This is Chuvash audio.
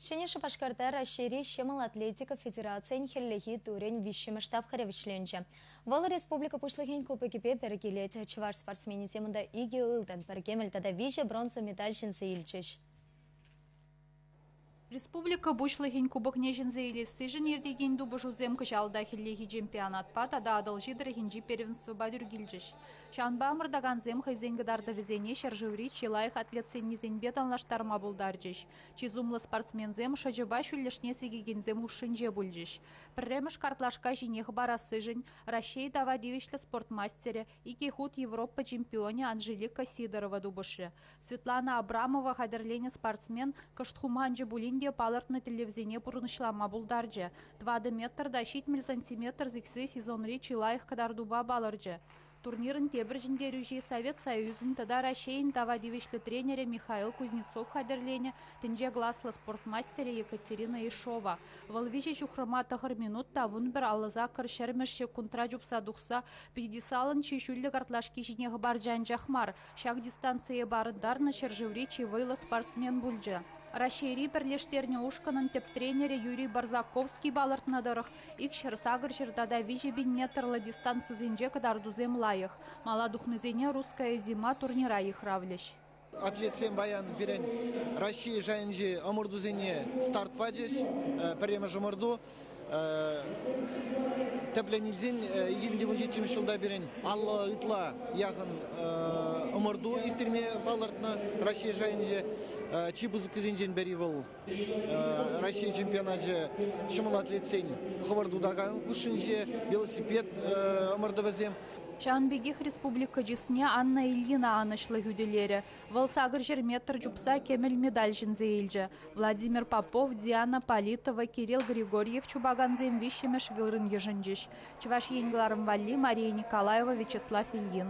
Ҫӗнӗ Шупашкарта Раҫҫейри ҫӑмӑл атлетика федерацийӗн хӗллехи турӗн виҫҫӗмӗш тапхӑрӗ вӗҫленчӗ. Вӑл республика Пуҫлӑхӗн кубокӗпе пӗр килет. Чӑваш спортсменӗсем унта икӗ ылтӑн, пӗр кӗмӗл тата виҫӗ бронза медаль ҫӗнсе илчӗҫ. Республика Пуҫлӑхӗн кубокне ҫӗнсе илессишӗн иртекен тупӑшусем кӑҫал та хӗллехи чемпионатпа тата Атӑлҫи тӑрӑхӗнчи первенствӑпа тӳр килчӗҫ. Ҫавӑнпа ӑмӑртакансем хӑйсен кӑтартӑвӗсене ҫӗршыври чи лайӑх атлетсеннисемпе танлаштарма пултарчӗҫ. Чи сумлӑ спортсменсем шӑчӑпа ҫӳллӗшне сикекенсем хушшинче пулчӗҫ. Пӗрремӗш картлашка ҫине хӑпарассишӗн Раҫҫей тава тивӗҫлӗ спорт мастерӗ, икӗ хут Европа чемпионӗ Анжелика Сидорова тупӑшрӗ. Светлана Абрамова хатӗрленӗ спортсмен кӑшт хуманчӗ пулин те палӑртнӑ тӗллевсене пурнӑҫлама пултарчӗ. Тӑватӑ метр та ҫитмӗл сантиметр сиксе сезонри чи лайӑх кӑтартупа палӑрчӗ. Турнирӑн тепӗр ҫӗнтерӳҫи Совет Союзӗн тата Раҫҫейӗн тава тивӗҫлӗ тренерӗ Михаил Кузнецов хатӗрленӗ тӗнче класлӑ спорт мастерӗ Екатерина Ишова. Вӑл виҫӗ ҫухрӑма тӑхӑр минут та вун пӗр аллӑ саккӑр ҫӗрмӗш ҫеккунтра чупса тухса пьедесталӑн чи ҫӳллӗ картлашки ҫине хӑпарчӗ анчах мар, Ҫак дистанцие парӑнтарнӑ ҫӗршыври чи вӑйлӑ спортсмен пулчӗ. Раҫҫейри пӗрлештернӗ ушкӑнӑн тӗп тренерӗ Юрий Барзаковский палӑртнӑ тӑрӑх, икҫӗр-сакӑрҫӗр тата виҫӗ пин метрлӑ дистанцисенче кӑтартусем лайӑх. Мала тухнисене Русская зима турнира йыхравлӗҫ. Атлетсем паян пирӗн Раҫҫей шайӗнчи ӑмӑртусене старт пачӗҫ. Пӗрремӗш ӑмӑрту. Тӗплӗн илсен 2017 ҫулта пирӗн алла ытла яхӑн ӑмӑрту ирттерме палӑртнӑ Раҫҫей шайӗнче. Чи пысӑккисенчен пӗри вӑл Раҫҫей чемпионачӗ ҫӑмӑл атлетсен хӑвӑрт утакан хушшинче велосипед ӑмӑртӑвӗсем. Ҫавӑн пекех республика чысне Анна Ильина анӑҫлӑ хӳтӗлерӗ. Вӑл сакӑр ҫӗр метр чупса кӗмӗл медаль ҫӗнсе илчӗ. Владимир Попов, Диана Политова, Кирилл Григорьев чупакансем виҫҫӗмӗш вырӑн йышӑнчӗҫ. Чӑваш Ен кӑларӑм валли Мария Николаева, Вячеслав Ильин.